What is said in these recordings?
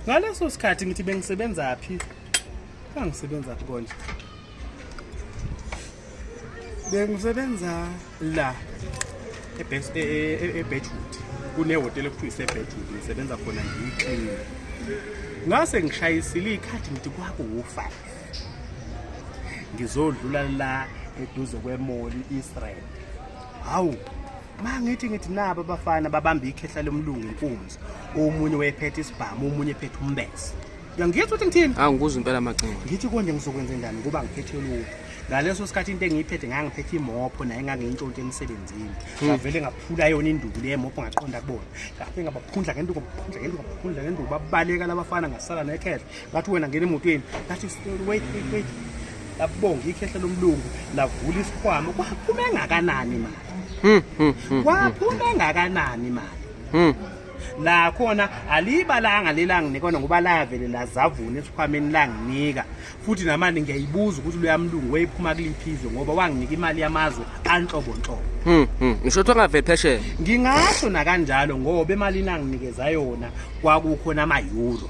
ngaleso sikhathi ngithi bengisebenza phi kangisebenza phi konje bengisebenza la ebedwood e- e- e- kunehhotela ekuthiwa isebedwood ngisebenza khona ngiyiclini ngase ngishayisile iy'khathi ngithi kwakuwu-five ngizodlula la eduze kwemoli israel hawu mangithi ngithi nabo abafana babamba ikhehla lomlungu inkunzi omunye wayephethe isibhamu omunye ephethe umbese uyangizwa ukuthi ngithini hawu ngikuza impela macingo ngithi konje ngizokwenza njani ngoba ngiphethe lutho ngaleso sikhathi into engiyiphethe ngangiphethe imopho naye ngangiyintshontshe emsebenzini hmm. ngavele ngaphula yona induku le mopho ngaqonda kubona ngafe ngabaphundla ngenduku ngabaphundla ngenduku ngabaphundla ngenduku babaleka labafana ngasala nekhehla ngathi wena ngena emotweni ngathi wait wait wait labonga ikhehla lomlungu lavula isikhwama kwaphuma engakanani mali hmm, hmm, hmm, kwaphuma engakanani mali la khona alibalanga lelanginikona ngoba lavele lazavuna esikhwameni langinika futhi namani ngiyayibuza ukuthi luyamlungu weyiphuma kuliphizwe ngoba wanginika imali yamazwe anhlobonhlobo hmm, hmm. ngisho ukuthi angaveli phesheya ngingasho nakanjalo ngoba emalini anginikeza yona kwakukhona ama-euro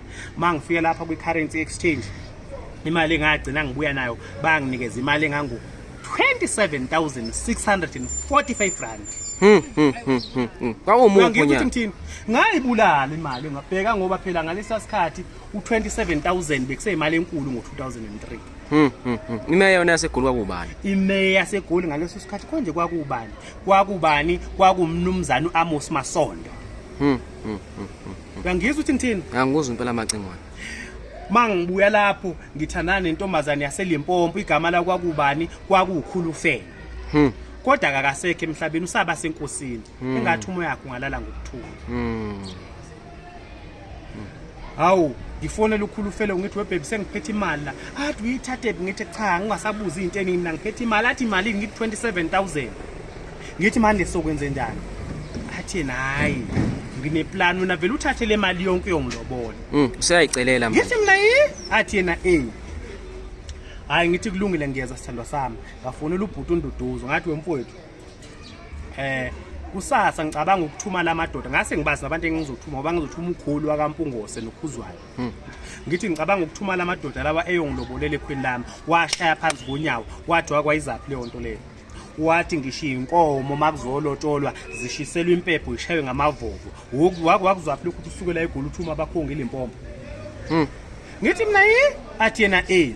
uma ngifika lapha kwi-currency exchange imali engagcina ngibuya nayo banginikeza imali engangu 27645 rand hmm, hmm, hmm, kwawumuthini ngayibulala imali ngabheka ngoba phela ngalesa sikhathi u-27000 bekuseyimali enkulu ngo-2003 imeya yona yasegoli kwakubani imeya yasegoli ngaleso sikhathi konje kwakubani kwakubani kwakumnumzane u-amos masondo Uyangizwa uthi ngithini? Ngangikuzwa impela macingwane. Mangibuya lapho ngithandana nentombazane yaseLimpopo igama la kwakubani kwakukhulu fela. Hmm. Kodwa kakasekho emhlabeni usaba senkosini. Hmm. Engathi umoya wakhe ungalala ngokuthula. Hmm. Hawu ngifonela ukhulu fele ngithi webhebi sengiphethe imali la athi uyithathephi ngithi cha ngingasabuzi into eningi mina ngiphethe imali athi imali ngithi 27000 ngithi manje sokwenzenjani athi nayi ngineplan wena vele uthathe le mali yonke yongilobole mm, useyayicelela ngithi mina yi athi yena e hayi ngithi kulungile ngiyeza sithandwa sami ngafonela ubhuti unduduzo ngathi wemfowethu eh kusasa ngicabanga ukuthuma lamadoda ngase ngibazi abantu engizothuma ngoba ngizothuma ukhulu wakampungose nokhuzwayo hmm. ngithi ngicabanga ukuthuma lamadoda lawa eyongilobolele ekhweni lami washaya phansi konyawo wathi wakwayizaphi leyo nto leyo wathi ngisho iy'nkomo uma kuzolotsholwa zishiselwa impepho ishaywe ngamavovo wake wakuzwaphi lokhu ukuthi usukela egula uthi uma bakhonga ilimpompo hmm. ngithi mina yi athi yena e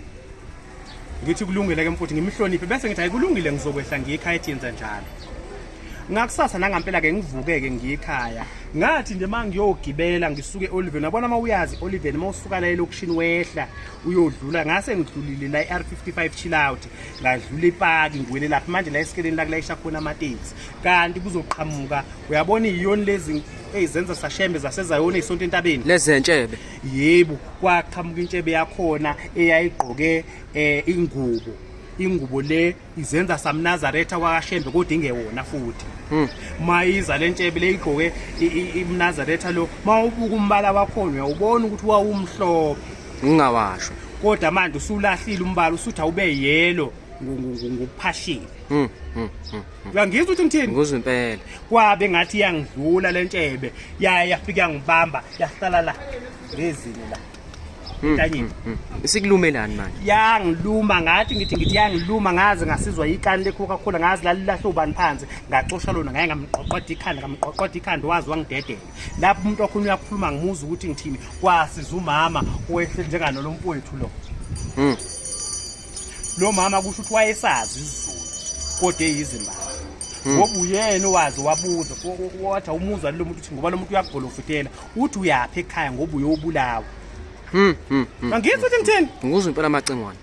ngithi kulungile-ke mfuthi ngimhloniphe bese ngithi hayi kulungile ngizokwehla ngiyikhaya ethi yenza njalo ngakusasa nangampela-ke ngivuke-ke ngiyikhaya ngathi nje uma ngiyogibela ngisuke eoliveni wabona uma uyazi oliveni uma usuka la elokishini wehla uyodlula ngase ngidlulile la i-r 55 chill out ladlula ipaki ngiwele laphi manje la esikeleni lakulayisha khona amatekisi kanti kuzoqhamuka uyabona iyoni lezi eyizenza sashembe zasezayona isonto entabeni lezentshebe yebo kwaqhamuka intshebe yakhona eyayigqoke eh, ingubo ingubo le izenza samnazaretha kwakashembe kodwa ingewona futhi hmm. mayiza le ntshebe leyigqoke imnazaretha lo mawubuka umbala wakhona uyawubona ukuthi wawumhlophe ngingawasho kodwa manje usulahlile umbala usuthi awube yelo ngokuphashile hmm, hmm, hmm, uyangizwa ukuthi ngithini ngizwa impela kwabe ngathi iyangidlula le ntshebe yaya yafika yangibamba yahlala la ngezini la ntanyeni sikulumelani manje yangiluma ngathi ngithi ngithi yangiluma ngaze ngasizwa ikani lecoca cola ngazi lalilahle ubani phansi ngaxosha lona ngaye ngamqoqoda ikhanda ngamqoqoda ikhanda wazi wangidedela lapho umuntu wakhona uyakhuluma ngimuza ukuthi ngithini kwasiza umama wehle njengano lo mfowethu lo mm. lo mama kusho ukuthi wayesazi isizulu kodwa eyizimbali hmm. ngoba mm. uyena owazi wabuza wathi awumuzwa lo muntu uthi ngoba lo muntu uyagolofutela uthi uyaphi ekhaya ngoba uyobulawa mm. mm. mm. angizwa ukuthi ngithini ngikuzwa impela amacengwane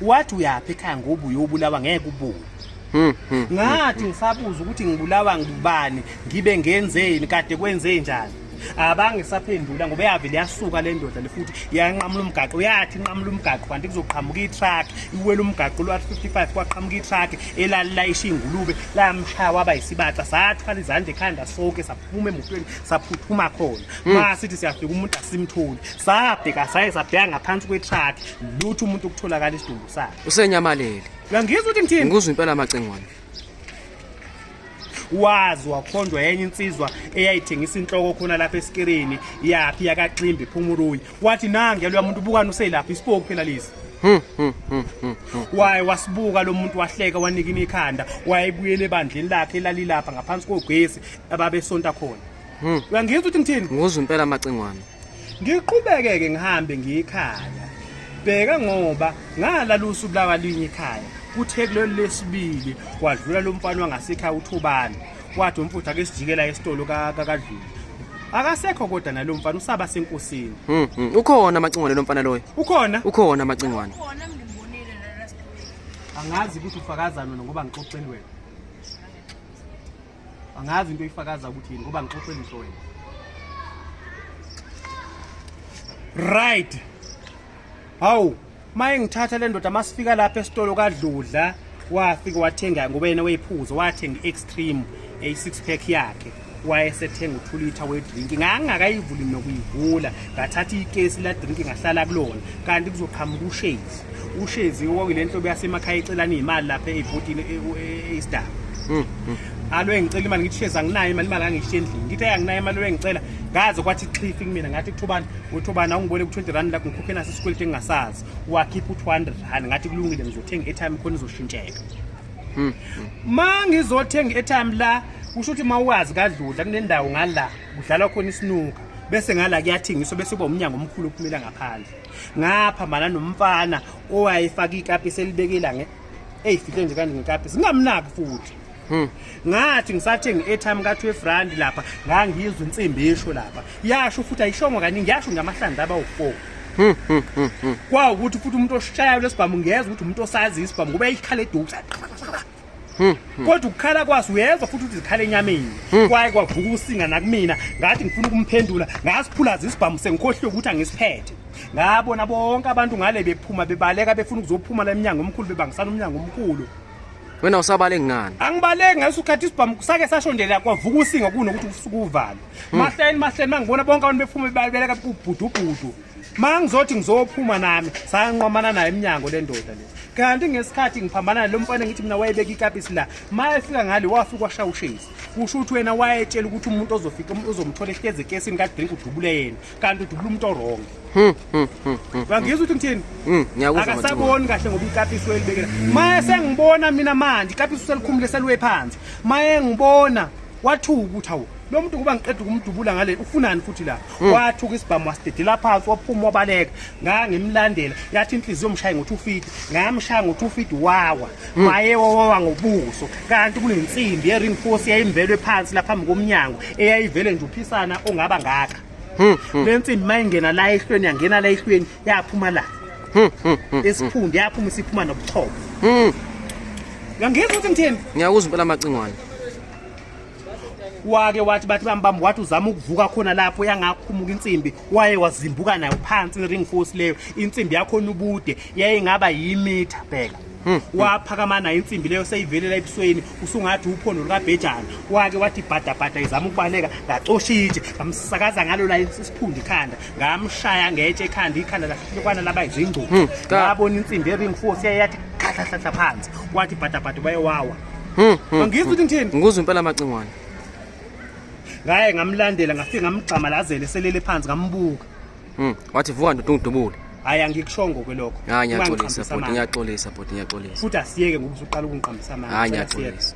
wathi uyaphi ekhaya ngoba uyobulawa ngeke ubuke hmm, hmm, hmm, ngathi ngisabuza ukuthi ngibulawa ngubani ngibe ngenzeni kade kwenze njani abangisaphendula ngoba yavele yasuka le ndoda le futhi yanqamula umgaqo yathi inqamula umgaqo kanti kuzoqhamuka itruck iwela umgaqo lwa 55 kwaqhamuka itruck elalilayisha ingulube lamshaya waba yisibaca sathwala izandla ekhanda sonke saphuma emotweni saphuthuma khona masithi siyafika umuntu asimtholi sabheka saye sabheka ngaphansi kwe-truck lutho umuntu ukutholakala isidumbu sakhe usenyamalele uyangizwa ukuthi ngithini ngikuzwa impela amacingwane wazi wakhonjwa yenye insizwa eyayithengisa inhloko khona lapha esikirini yaphi yakaximbi phumuruyi wathi nange loya muntu ubukani uselapha isipoku phela lesi hmm, hmm, hmm, waye wasibuka lo muntu wahleka wanika imikhanda wayebuyela ebandleni lakhe elalilapha ngaphansi kogesi ababesonta khona uyangizwa ukuthi ngithini nguzwa impela amacingwane ngiqhubekeke ngihambe ngiyikhaya bheka ngoba ngalala usuku lakalinye ikhaya kuthe kulolu lesibili kwadlula lo mfana wangasekhaya uthubane wathi umfuthu ake sijikela esitolo kakadlula akasekho kodwa nalo mfana usaba senkosini hmm, hmm. ukhona amacingwane lo mfana loyo ukhona ukhona amacingwane angazi ukuthi ufakazani wena ngoba ngixoxeni wena angazi into ifakaza ukuthi yini ngoba ngixoxele into wena right hawu maye ngithatha le ndoda masifika lapha esitolo kadludla wafika wathenga ngoba yena weyiphuzo wathenga i-extreme eyi-six pack yakhe wayesethenga u-two litre wedrink ngangingakayivuli nokuyivula ngathatha ikesi ladrink ngahlala kulona kanti kuzoqhamuka ushezi ushezi okuyile nhlobo yasemakhaya icelana izimali lapha ebhotini e, e, esidaba hmm, hmm. alo engicela imali ngithi shezi anginayo imali imali angishiye endlini ngithi ayanginayo imali lo engicela ngaze kwathi cliff kumina ngathi kuthobani uthobani awungibone ku-20 rand lakho ngikhokhe naso isikweleti engingasazi wakhipha u-200 rand ngathi kulungile ngizothenga i-airtime khona izoshintsheka hmm, ma ngizothenga i-airtime la kusho ukuthi ma uwazi kadludla kunendawo ngala kudlalwa khona isinuka bese ngala kuyathengiswa bese kuba umnyango omkhulu ophumela ngaphandle ngaphambana nomfana owayefaka ikapi selibekela nge eyi fihle nje kanje ngekapi singamnaki futhi Hmm. ngathi ngisathenga i-airtime ka-twelve rand lapha ngangizwa insimbi esho lapha yasho futhi ayishongo kaningi yasho ngamahlandla abawu-four Hmm, hmm, hmm, hmm. kwawukuthi futhi umuntu oshayayo lesibhamu ngiyeza ukuthi umuntu osazi isibhamu ngoba yayikhala eduku Hmm, hmm. kodwa ukukhala kwaso uyezwa futhi ukuthi zikhala enyameni hmm. kwaye kwavuka usinga nakumina ngathi ngifuna ukumphendula ngasiphulaza isibhamu sengikhohliwe ukuthi angisiphethe ngabona bonke abantu ngale bephuma bebaleka befuna ukuzophuma la emnyango omkhulu bebangisana umnyango omkhulu wena usabaleki ngani angibaleki ngaso ukhathi isibhamu sake sashondelela kwavuka usinga kunokuthi usukuvala mahleni mahleni mangibona bonke abantu bephuma bebaleka kubhudubhudu ma ngizothi ngizophuma nami sayanqwamana naye emnyango le ndoda le kanti ngesikhathi ngiphambana nalo mfana ngithi mina wayebeka ikapisi la ma efika ngale wafika washaya ushezi kusho ukuthi wena wayetshela ukuthi umuntu ozofika uzomthola ehlezi ekesini kadrink udubule yena kanti udubule umuntu orong hmm, hmm, hmm, wangizwa ukuthi ngithini akasaboni kahle ngoba ikapisi welibekela ma esengibona mina manje ikapisi uselikhumule seliwe phansi ma engibona wathuka ukuthi hawu lo muntu kuba ngiqeda ukumdubula ngale ufunani futhi la hmm. wathuka isibhamu wasidedela phansi waphuma wabaleka ngangimlandela yathi inhliziyo mshaye ngothi ufiti ngamshaya ngothi ufiti wawa hmm. waye wawa ngobuso kanti kunensimbi ye-ring force yayimvelwe phansi la phambi komnyango eyayivele nje uphisana ongaba ngaka hmm, le nsimbi uma ingena la ehlweni yangena la ehlweni yaphuma la esiphundu yaphuma isiphuma nobuchopho uyangizwa ukuthi ngithini ngiyakuzwa impela amacingwane wake wathi bathi bambamba wathi uzama ukuvuka khona lapho yangakhumuka insimbi waye wazimbuka nayo phansi ring force leyo insimbi yakho nubude yayingaba yimitha bheka hmm, hmm. waphakama nayo insimbi leyo seyivelela ebusweni usungathi uphondo lukabhejana wake wathi bhadabhada izama ukubaleka ngacosha itshe ngamsakaza ngalo la isiphundu ikhanda ngamshaya ngetshe ekhanda ikhanda lahlukana laba izingcubo hmm, ngabona insimbi ering force yayathi khahlahlahla phansi wathi bhadabhada baye wawa Hmm, hmm, Angizwa ukuthi ngithini. Ngikuzwa impela amacingwane. Ngaye ngamlandela ngafika ngamgxama lazele selele phansi ngambuka. Mhm. Wathi vuka ndoda ungidubule. Hayi angikushongo kwelokho. Hayi ngiyaxolisa bhuti ngiyaxolisa bhuti ngiyaxolisa. Futhi asiyeke ngokuthi uqala ukungiqambisa amanga. Hayi ngiyaxolisa.